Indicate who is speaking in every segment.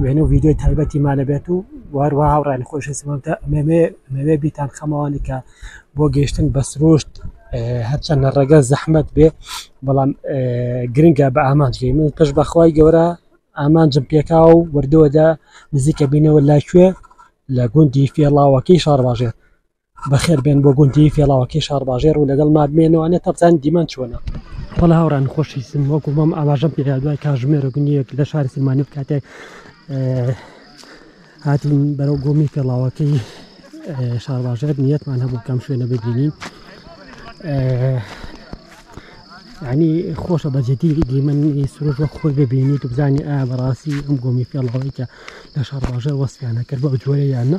Speaker 1: وێنە و ڤیدیۆی تایبەتی ما دەبێت و واروا هاوڕانی خۆشەسمەتە ئەمەوێ بیتان خەمەوانی کە بۆ گەشتن بە سروشت هەرچەندە ڕێگە زەحمت بێ بەڵام گرنگە بە ئامانجی من پش بەخوای گەورە ئامانجم پێکا و وردەوەدا نزیکە بینەوە لاکوێ لە گوندی فێڵاوەکەی شارباژێت بەخێر بێن بۆ گوندی فێڵاوەکەی شارباژێر و لەگەڵ مابمێنەوانێت تەبزان دیمان چۆنە بەڵ هاوران خۆشی سم وەکو مەم ئاماژەم پێ دوای کاژمێرە گونیەک لە شاری سلمانی کاتێک هاتین بەرەو گۆمی فێڵاوەکەی شارباژێر نیەتمان هەبوو کەم شوێنە ببینین ینی خۆشە بەجددی دیمەنی سروش وە خۆی ببینی تو بزانانی ئا بەڕاستی ئەم گۆمی فێڵەوەی کە لە شارباژێر وەسیانە کرد بە جۆرەیانە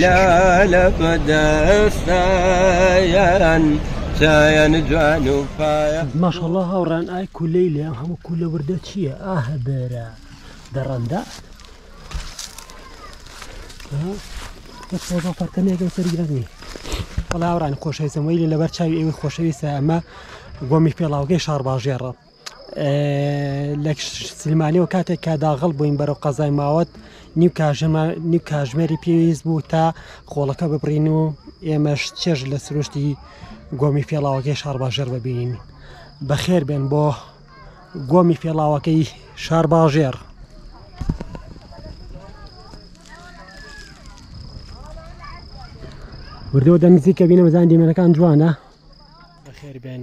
Speaker 1: لالە بەدەستایان چایان جوان و پایە. ماشاءاللە هاوڕێیان ئای کولەی لێ ئەم هەموو کولە وردە چییە ئاهە بێرە دەڕەندە فەرتەنێکم سەرگرنی بەڵاوڕان خۆشەویستم وەی لەبەر چاوی ئێوەی خۆشەویستە ئەمە گۆمی پێڵاوگەی شارباژێڕە لە سلمانیەوە کاتێک کا داغڵ بووین بەرەو قەزای ماوەت نیو کاژەمە نیو کاژمێری پێویست بوو تا خۆڵەکە ببڕین و ئێمەش چێژ لە سروشتی گۆمی فێڵاوەکەی شارباژێر ببینین بەخێر بێن بۆ گۆمی فێڵاوەکەی شارباژێر وردەوە دەنزیکە بینە بەزان دیمەنەکان جوانە بەخێر بێن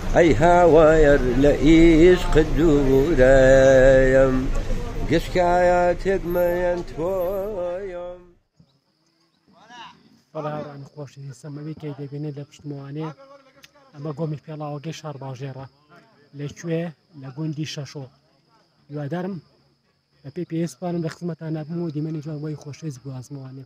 Speaker 1: ئەی هاوار لە ئیشقت دوورەم گشکایە تێک مەیەن تۆیەم. بەڵێ هاوڕێیان خۆشەویست سەمەوی کەی دەبینێت لە پشتمەوانێ ئەمە گۆمی پێڵاوەکەی شارباژێڕە لەکوێ لە گوندی شەشۆ هیوادارم بەپێی پێویستوانم لە خزمەتان نابم و دیمەنی جوان بۆی خۆشەویست گوازمەوانێ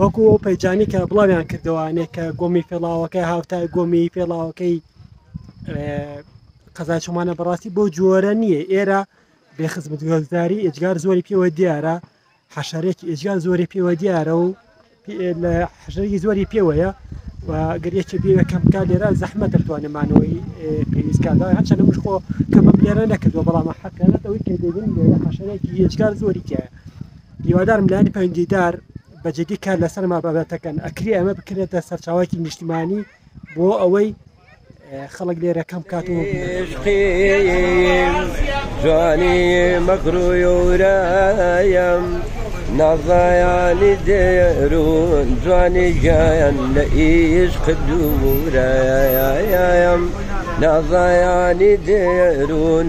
Speaker 1: وەکو ئەو پەیجانەی کە بڵاویان کردەوە یانێ کە گۆمی پێڵاوەکە هاوتا گۆمی پێڵاوەکەی قەزای چۆمانە بەڕاستی بۆ جۆرە نییە ئێرە بێ خزمەت گۆزداری ئێجگار زۆری پێوە دیارە حەشارێکی ئێجگار زۆری پێوە دیارە و لە حەشەری زۆری پێوەیە و گەرێکی بێوە کەم بکات لێرە زەحمە دەتوانێمانەوەی پێویستکاردا هەچەنە مش خۆ کەمە لێرە نەکردو بەڵام حەکەەوەی کە دێبین لێرە حەشەرێکی هێجگار زۆری تایە هیوادارم لایەنی پەیوەندیدار بە جدی کار لەسەر ما بابەتەکەن ئەکری ئەمە بکرێتە سەرچاوایکی نیشتمانی بۆ ئەوەی خەڵک لێرە کەم کاتەوە جوانی مەکرۆیۆرایم نازایانی دێرون جوانی گیان لە ئیش قدوورایایم نازایانی دێرون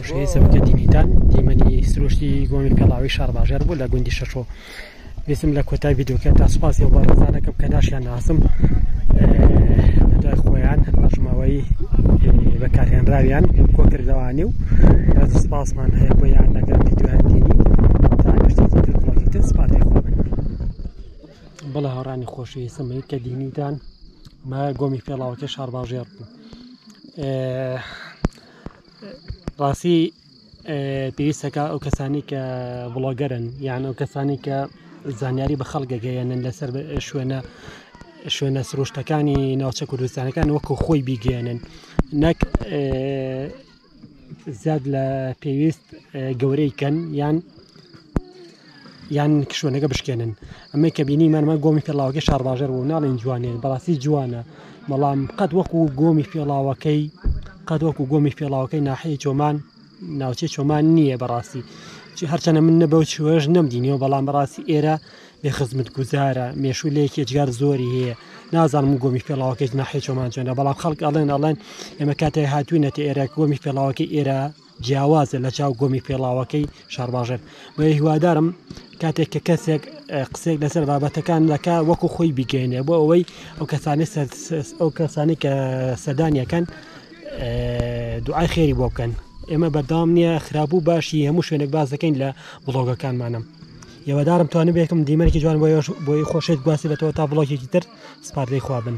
Speaker 1: شوێنی سەرۆکە دیلیتە دیمەنی سروشتی گۆمی پێڵاوی شارباژێر بوو لە گوندی شەشۆ ویستم لە کۆتای ویددیوکە تا سوپاسی ئەو بەڕێزانەکەم کە ناشیان ناسم دوای خۆیان بەشماوەی بەکارهێنراویان کۆکردەوانی و ڕێز سپاسمان هەیە بۆیان لەگەر ویددیویان دینی تاگەشتێکی تر بڵۆگی تر سپاتی خۆبن بڵێ هەڕانی خۆشەویست سمەی کە دینیتان مە گۆمی پێڵاوەکە شارباژێر بوو ڕاستی پێویستە کە ئەو کەسانی کە بڵۆگەرن یان ئەو کەسانی کە زانیاری بە خەڵک گەیەنن لەسەر شوێنە شوێنە سروشتەکانی ناوچە کوردستانەکان وەکو خۆی بیگەێنن نەک زیاد لە پێویست گەورەی کەن یان یان شوێنەکە بشکێنن ئەمەی کە بینیمان من گۆمی پێڵاوەکەی شارباژەر بوو ناڵێن جوانێن بەڕاستی جوانە بەڵام قەت وەکو گۆمی پێڵاوەکەی قەت وەکو گۆمی پێڵاوەکەی ناحەیە چۆمان ناوچەی چۆمان نییە بەڕاستی هەرچەنە من نە بەو چوێش نەمدینەوە بەڵام بەڕاستی ئێرە بێ خزمت گوزارە مێشوو لە یەکێجگار زۆری هەیە نازانم و گۆمی پێڵاوەکەی ناحێ چۆمان چۆنە بەڵام خەڵک ئەڵێن ئەڵێن ئێمە کاتێ هاتوینەتە ئێرە گۆمی پێڵاوەکەی ئێرە جیاوازە لە چاو گۆمی پێڵاوەکەی شارباژێر بۆیە هیوادارم کاتێک کە کەسێک قسێک لەسەر بابەتەکان دەکا وەکو خۆی بیگەێنێ بۆ ئەوەی ئەو کەسانی ئەو کەسانی کە سەدانیەکەن دوعای خێری بۆ بکەن ئێمە بەردام نییە خراپبوو باشی هەموو شوێنێک باز دەکەین لە بڵۆگەکانمانم یەوەدارم توانم بێکم دیمەرکی جوان بۆ بۆی خۆشێت گواسی بێتەوە تا بڵۆکێکی تر سپاردەی خوابن.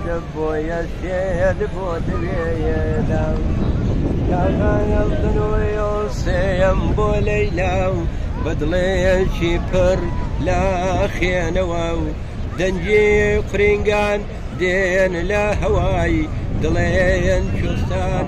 Speaker 1: بۆیە سێیەت بۆ دەوێدا سێیەم بۆ لەیلا و بەدڵێکی پڕ لە خێنەوە و دەنگی قرینگان دێن لە هەوای دڵێن کوردستان.